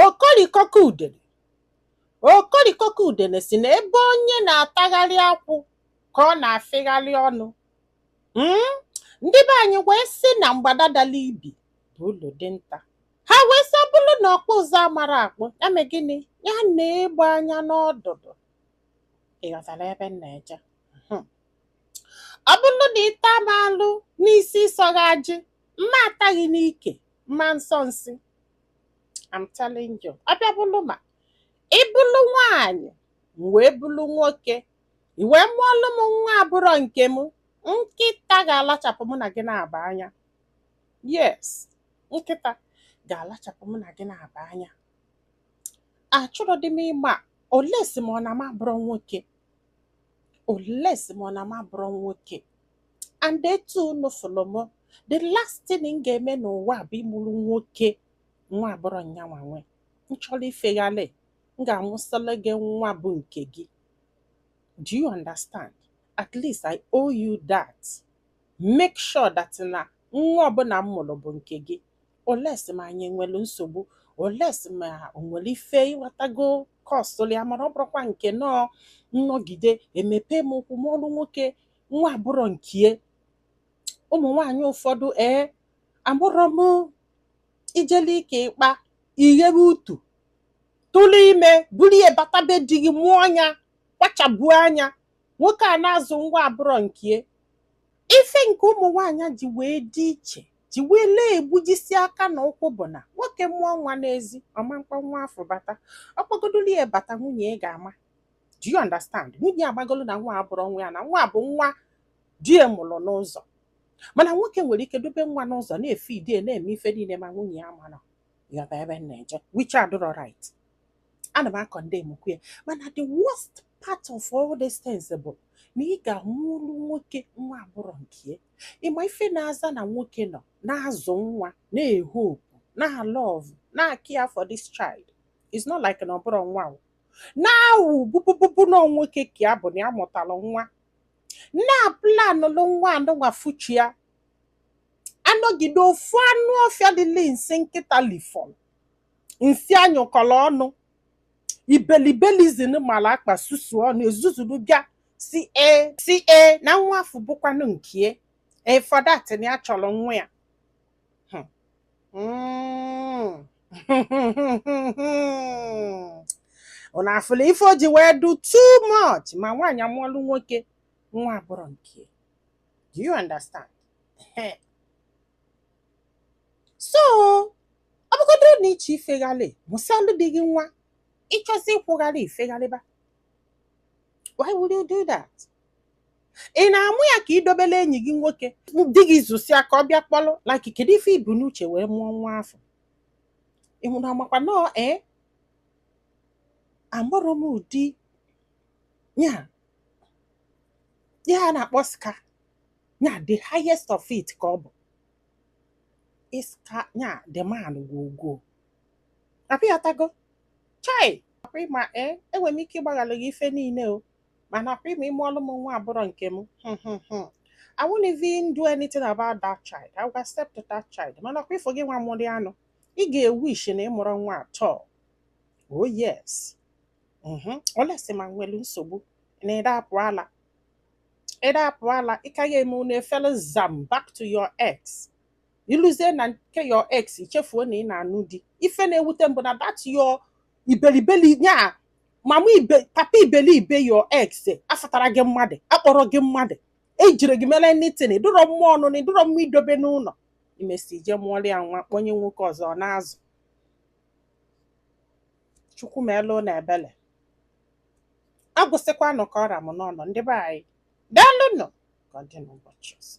Okolikọka udene Okolikọka udene si na ebe onye na-atagharị akwụ ka ọ na-afịgharị ọnụ hmm? ndị be anyị wee sị na mgbada dala ibi bụ ulu dinta ha wee sị ọ bụrụ na ọkpụ ụzụ amarọ akpụ ya mee gịnị ya nee egbe anya n'ọdụdụ ịghọtara ebe m na-eje hmm. ọ bụrụ na ị ta m alụ n'isi ịsọghị ajị mụ ata gị n'ike m ma nsọ nsị I'm telling you ọ bịa bụlụ ma ị bụlụ nwaanyị m wee bụlụ nwoke i wee mụọlụ m nwa abụrọ nke m nkịta ga-alachapụ mụ na gị naabọ anya yes nkịta ga-alachapụ mụ na gị naabọ anya achọrọdị m ịma unless ma ọ na m abụrọ nwoke unless ma ọ na m abụrọ nwoke and etu unu fụlụ m the last thing m ga-eme n'ụwa bụ ịmụrụ nwoke nwa abụrọ nyanwa nwe m chọrọ ifeghalị m ga-amụsịrị gị nwa bụ nke gị do you understand at least i owe you that make sure that na nwa ọbụla m mụrụ bụ nke gị unless ma anyị nwere nsogbu unless ma o nwere ife ịghọtago kọsụlụ ya mana ọ bụrọkwa nke nọọ nnọgide emepe m ụkwụ mụọrụ nwoke nwa abụrọ nkie ụmụ nwaanyị ụfọdụ ee amụrọ m ijele ike ịkpa ighebe utu tụlụ ime buru ya bata be di gị mụọ nya kpachabuo anya nwoke a na-azụ nwa abụrọ nkie ife nke ụmụ nwaanyị ji wee dị iche ji wee lee egbujisi aka na ụkwụ bụ na nwoke mụọ nwa n'ezi ọ ma mkpọ nwa afụ bata ọ kpọgodoli ya bata nwunye ya ga-ama do you understand nwunye amagolu na nwa abụrọ nwa ya na nwa bụ nwa di ya mụrụ n'ụzọ mana nwoke nwere ike dobe nwa n'ụzọ na-efeed ya na-eme ife niile ma nwunye ya amana ịghọta ebe m na-eje which adịrọ right ana m acondemnkwu ya mana the worst part of all these things bụ na ị ga-amụrụ nwoke nwa abụrọ nke ya ịma ife na-aza na nwoke nọ na-azụ nwa na-ehope na-alove na-acare for this child it's not like na ọ bụrọ nwa o. na-awụ bụbụbụbụ na nwoke ka ya bụ na ya mụtara nwa na-aplanụlụ nwa anụnwa future anọgide ofu anụ ọfịa dịle nsị nkịta lifọlụ nsị anyụkọrọ ọnụ ibelibelizim mara akpa susu ọnụ ezuzuru bịa si e si e na nwa afụ bụkwanụ nkie for that na ya chọrọ nwa ya Hmm. unu afụla ife o ji wee do too much ma nwaanyị amụọlụ nwoke nwa abụrọ nke do you understand so ọ bụgodu na ị chọ ifeghalị mụsịalụ di gị nwa ị chọzi ịkwụghalị ifeghalịba why would you do that ị na-amụ ya ka i dobelụ enyi gị nwoke di gị zụsịa ka ọ bịa kpọlụ like kedu ife i bu n'uche wee mụọ nwa afụ ị hụrụ amakwa na ee eh? amụrụ m ụdị ya ya na-akpọ ska ya the highest of it ka ọ bụ iska ya the man gwogwo apịatago chai ị ma ee eh? enwere m ike ịgbaghalụ gị ife niile o mana kwa ịma ịmụọlụ m nwa abụrọ nke m hmm, hmm, hmm. I won't even do anything about that child. I will accept that child. Mana kwa ifo gị nwa mụrụ anụ, ị ga-ewish na ị mụrọ nwa at all. Oh yes. Mm-hmm. Olesi ma nwere nsogbu na ị da-apụ ala. Ị da-apụ ala, ị ka ya eme unu efele zam back to your ex. I luzie na nke your ex i chefuo na ị na-anụ di. Ife na-ewute m bụ na that your ibelibeli ya mama papa ibelibe your ex afụtarọ gị mmadụ akpọrọ gị mmadụ ejirọ gị mere anything ị dụrọ mma ọnụnụ ị dụrọ mma idobe n'ụlọ i mesịa je mụọrọ ya nwa kpọnye nwoke ọzọ na-azụ chukwu meelụ unu ebele agwụsịkwanụ ka ọ ra m n'ọnụ ndị be anyị daalụnụ ka ọ dị n'ụbọchị ọzọ